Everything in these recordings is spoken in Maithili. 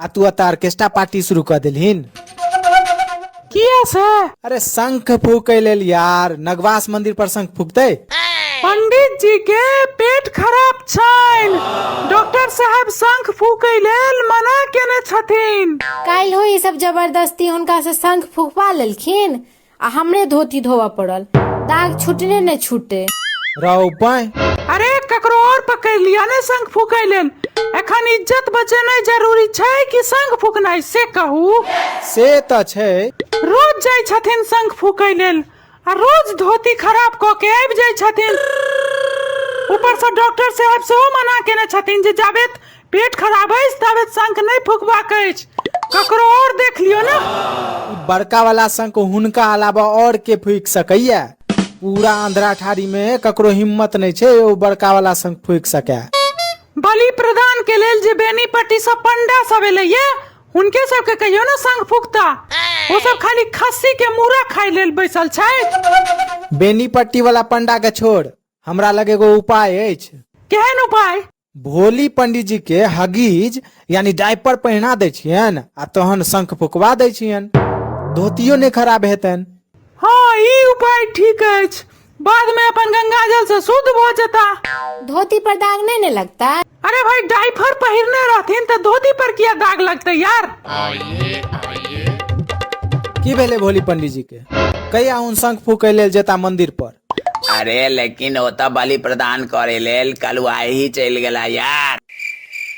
आ तू अता ऑर्केस्ट्रा पार्टी शुरू कर दिलहिन किया से अरे शंख फूके लेल यार नगवास मंदिर पर शंख फूकते पंडित जी के पेट खराब छैन डॉक्टर साहब शंख फूकै लेल मना केने छथिन काल्हि ई सब जबरदस्ती हुनका से शंख फुकवा लेलखिन आ हमरे धोती धोबऽ पड़ल दाग छुटने नहि छुटे राव बाय अरे ककरो और पकड़ लिया ने शंख फूकै लेल एखन इज्जत बचेनाइ जरूरी छै कि शंख फूकनाइ से कहू से तऽ छै रोज जाइ छथिन शंख फूकै लेल आ रोज धोती खराब कऽ के आबि जाइ छथिन ऊपर से डॉक्टर साहब सेहो मना केने छथिन जे जाबेत पेट खराब अछि ताबे शंख नहि फुकबाक अछि ककरो और देख लियो ने बड़का वाला शंख हुनका अलावा और के फूक सकैया पूरा आंध्रा ठारी में ककरो हिम्मत नहीं छे ओ बड़का वाला शंख फूक सके बलि प्रदान के लेल जे बेनीपट्टी सब पंडा सब एलैया हुनके सबके कहियो ने संग फुकता ओ सब खाली खस्सी के मूड़ा खाय लेल बैसल छै बेनीपट्टी वाला पंडा के छोड़ हमरा लगे एगो उपाय अछि केहन उपाय भोली पंडीजी के हगीज यानी डायपर पहिना दै छियनि आ तहन शंख फुकवा दै छियनि धोतियो नहि खराब हेतनि हाँ ई उपाय ठीक अछि बाद में अपन गंगा जल से शुद्ध भ जता धोती पर दाग नहीं ने लगता अरे भाई डाइफर पहिरने रहथिन तो धोती पर किया दाग लगते यार की भेलै भोली पंडीजी के कहिया उन शंख फूकै लेल जेता मंदिर पर अरे लेकिन ओतऽ बलि प्रदान करे लेल कलुआही चलि गेला यार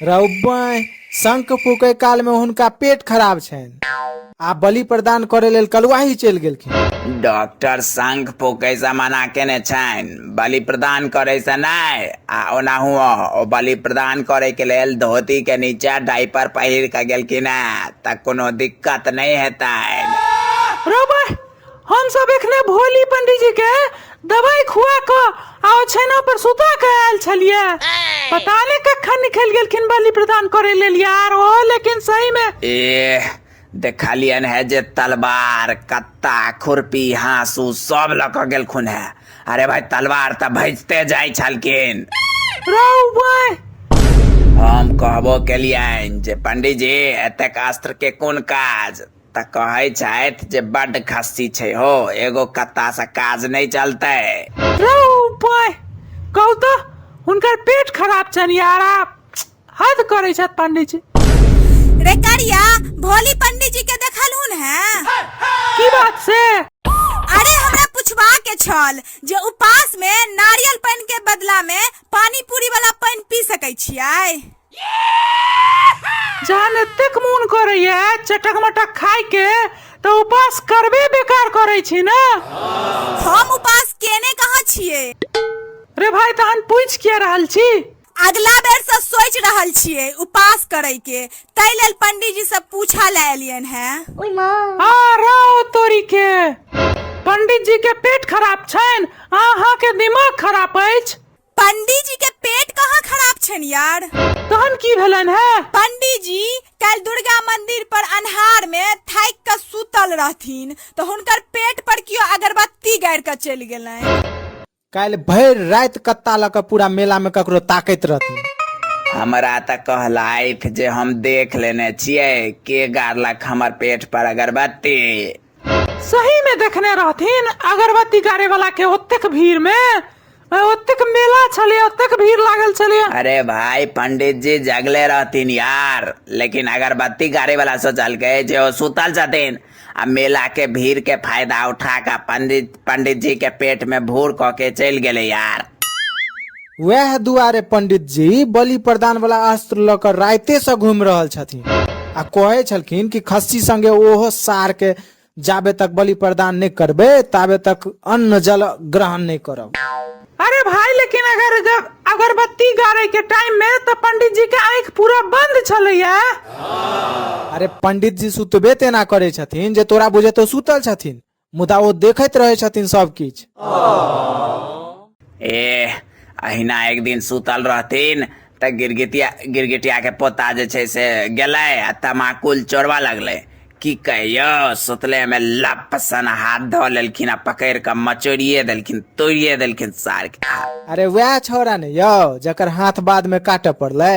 रौबैं शंख फूकै कालमे हुनका पेट खराब छनि आ बलि प्रदान करै लेल कलुआही चलि गेलखिन डॉक्टर शंख फूकैसँ मना केने छनि बलि प्रदान करैसँ नहि आ ओनाहु ओ बलि प्रदान करैके लेल धोतीके नीचा डाइपर पहिर कऽ गेलखिन हेँ तऽ कोनो दिक्कत नहि हेतनि रौबैं हम सब एखने भोली पंडित जी के दवाई खुआ के आ ओछैना पर सुता के आयल छलिए पता नहीं कखन निकल गेलखिन बलि प्रदान करे लेल यार ओ लेकिन सही में ए देखलियन है जे तलवार कत्ता खुरपी हाँसू सब लऽ कऽ गेलखुन है अरे भाई तलवार तऽ भजते जाइ छलखिन रौ भाई हम कहबो केलियन जे पंडीजी एतेक अस्त्र के कोन काज तऽ कहै छथि जे बड्ड खस्सी छै हो एगो कत्ता से काज नहि चलतै रे उपाय कहू तऽ हुनकर पेट खराब छनि यार आप हद करै छथि पंडित जी रे करिया भोली पंडित जी के देखलहुन हैं की बात से अरे हमरा पूछबा के छल जे उपास में नारियल पानी के बदला में पानी पूरी वाला पानी पी सकै छियै जान एतेक मोन करैया चटक मटक खाय के तऽ उपास करबे बेकार करै छी ने हम उपास केने कहाँ छिए रे भाई तहन पूछ किया रहल छी अगला बेर से सोच रहल छिए उपास करे के तै लेल पंडित जी से पूछा ले एलियन है आ राव तोरी के पंडित जी के पेट खराब छनि अहाँ के दिमाग खराब अछि पंडी जी के पेट कहाँ खराब छन यार तहन की भेलन है पंडी जी कल दुर्गा मंदिर पर अन्हार में थाक के सुतल रहथिन तो हुनकर पेट पर कियो अगरबत्ती गाड़ के चल गए काल्हि भरि राति कत्ता लऽ कऽ पूरा मेला में ककरो ताकैत रहथिन हमरा तऽ कहलथि जे हम देख लेने छियै के गाड़लक हमर पेट पर अगरबत्ती सही में देखने रहथिन अगरबत्ती गाड़े वाला के ओतेक भीड़ में आ, ओतेक मेला छलिए ओतेक भीड़ लागल छलिए अरे भाई पंडित जी जगले रहतीन यार लेकिन अगरबत्ती गाड़ी वाला सोचल के जे ओ सुतल छथिन आ मेला के भीड़ के फायदा उठा के पंडित पंडित जी के पेट में भूर कऽ के चलि गेले यार वएह दुआरे पंडित जी बलि प्रदान वाला अस्त्र लऽ कऽ राइते से घूम रहल छथिन आ कहे छलखिन कि खस्सी संगे ओहो सार के जाबे तक बलि प्रदान नहीं करबे ताबे तक अन्न जल ग्रहण नहीं करब अरे भाई लेकिन अगर जब अगरबत्ती गाड़े के टाइम में तो पंडित जी के आंख पूरा बंद छलैया अरे पंडित जी सुतबे तेना करे छथिन जे तोरा बुझे तो सुतल छथिन मुदा ओ देखैत रहै छथिन सब किछु एह अहिना एक दिन सुतल रहथिन तऽ गिरगिटिया गिरगिटिया के पोता जे छै से गेलै आ तमाकुल चोरबा लगलै की कहियो सुतले में लप सन हाथ धऽ लेलखिन आ पकड़ि कऽ मचोड़िए देलखिन तोड़िए देलखिन सार के अरे वएह छौड़ा ने यौ जकर हाथ बाद में काटऽ पड़लै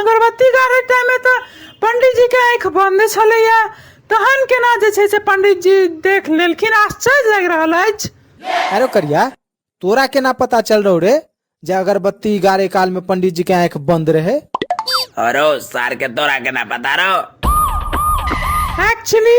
अगरबत्ती गाड़ै टाइममे तऽ पण्डीजीके आँखि बन्द छलैए तहन केना जे छै से पण्डीजी देख लेलखिन आश्चर्य लागि रहल अछि अरे करिया तोरा केना पता चल रहो रे जे अगरबत्ती गाड़े काल में पंडित जी के आंख बंद रहे अरे सार के तोरा केना पता रहो एक्चुअली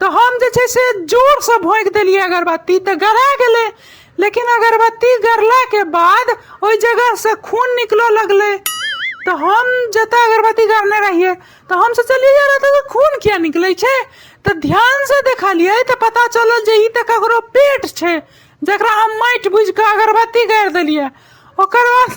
तऽ हम जे छै से जोरसँ भोंकि देलियै अगरबत्ती तऽ गरा गेलै लेकिन अगरबत्ती गरलाके बाद ओहि जगहसँ खून निकलऽ लगलै तऽ हम जतऽ अगरबत्ती गरने रहियै तऽ हम सोचलियै यार एतऽ तऽ खून किया निकलै छै तऽ ध्यानसँ देखलियै तऽ पता चलल जे ई तऽ ककरो पेट छै जकरा हम माटि बुझि कऽ अगरबत्ती गाड़ि देलियै ओकर बाद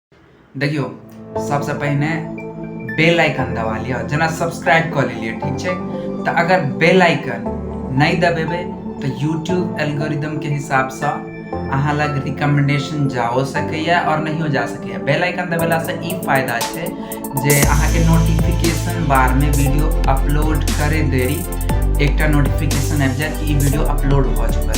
देखियो सबसे पहले बेल आइकन दबा लिया जना सब्सक्राइब कर लिए ठीक है तो अगर बेल आइकन नहीं दबेबे तो यूट्यूब एल्गोरिदम के हिसाब से अहाँ लग रिकमेंडेशन जाओ सकैए और नहीं जा सकैए बेल आइकन दबेला से ई फायदा छै जे अहाँ के नोटिफिकेशन बार में वीडियो अपलोड करे देरी एकटा नोटिफिकेशन आबि जायत कि ई वीडियो अपलोड भऽ चुकल छै